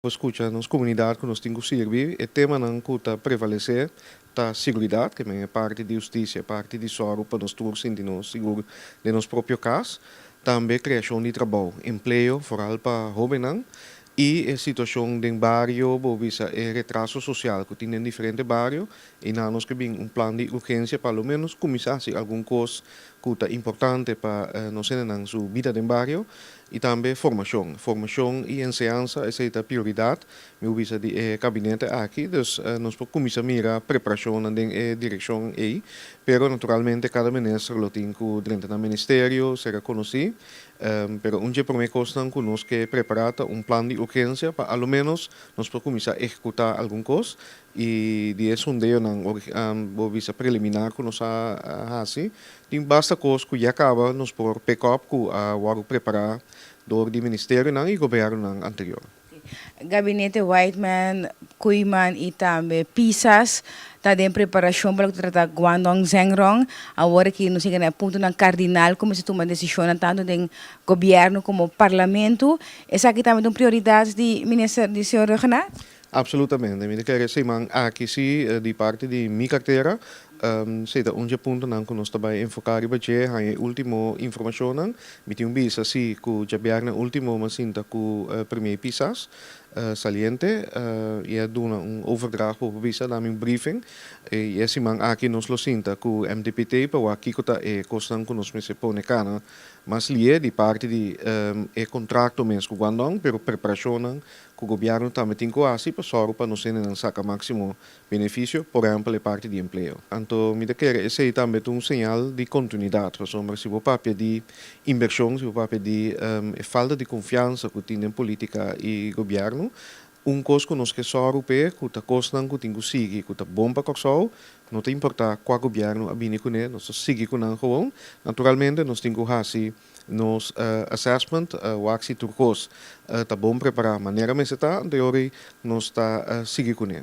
Nos scucha nos comunidad cu nos tin cu sirbi. E temanan cu ta prevalece ta seguridad, ke men e parti di justicia, e parti di zorgo pa nos tur sinti nos sigur den nos propio cas, tambe creacion di trabao, empleo, foral pa hobennan, y e situacion den bario, bo bisa e retraso social cu tin den diferente bario, y na nos ke bin un plan di urgencia pa lo menos cuminsa haci algun cos cu ta importante pa nos hendenan su bida den bario. I tambe formashon. Formashon i enseansa esei ta prioridat, mi a bisa di e kabinete aki. Dus nos por kuminsá mira preparashonnan den e direkshon ei. Pero naturalmente kada minister lo tin ku drenta nan ministerio sera konosí. Pero un dje promé kosnan ku nos ke prepará ta un plan di urgensia pa aloménos nos por kuminsá ehekutá algun kos. I di e sondeonan bo bisa preliminar ku nos a hasi, tin basta kos ku ya kaba nos por pek òp ku a wòrdu prepará dor di ministerionan i gobièrnunan anterior. Gabinete Whiteman, Kooiman i tambe Pisas ta den preparashon pa loke ta trata Guangdong Zhengrong. Awor aki nos yega na e puntonan kardinal ku mester tuma desishonnan tantu den gobièrnu komo Parlamento. Esaki tambe ta un prioridat di Minister, di señor Rhuggenaath? Absolutamente, mi ta kere seman aki si di parti di mi kartera si ta un dje puntonan ku nos ta bai enfoká riba dje, haña e último informashonnan. Mi tin un bisa si ku djabièrnè último mi a sinta ku Primier Pisas Saliente i a duna un overdracht popa bisa dami un briefing. I e siman aki nos lo sinta ku MDPT pa wak kiko ta e kosnan ku nos mester pone kana mas lié di parti di e kontrakto mes ku Guandong, pero preparashonnan ku gobièrnu tambe tin ku hasi pa sòru pa nos hendenan saka máksimo benefisio, por ehèmpel e parti di empleo. Anto mi ta kere esei tambe ta un señal di kontinuidat, pasobra si bo papia di invershon, si bo papia di e falta di konfiansa ku tin den polítika i gobièrnu, un kos ku nos ke sòru p'e ku ta kosnan ku tin ku sigui ku ta bon pa Kòrsou, no ta importá kua gobièrnu a bini kuné, nos ta sigui ku nan, gewoon, naturalmente nos tin ku hasi. Nos assessment wak si tur kos ta bon prepará manera mester ta, anto e ora ei nos ta sigui kuné.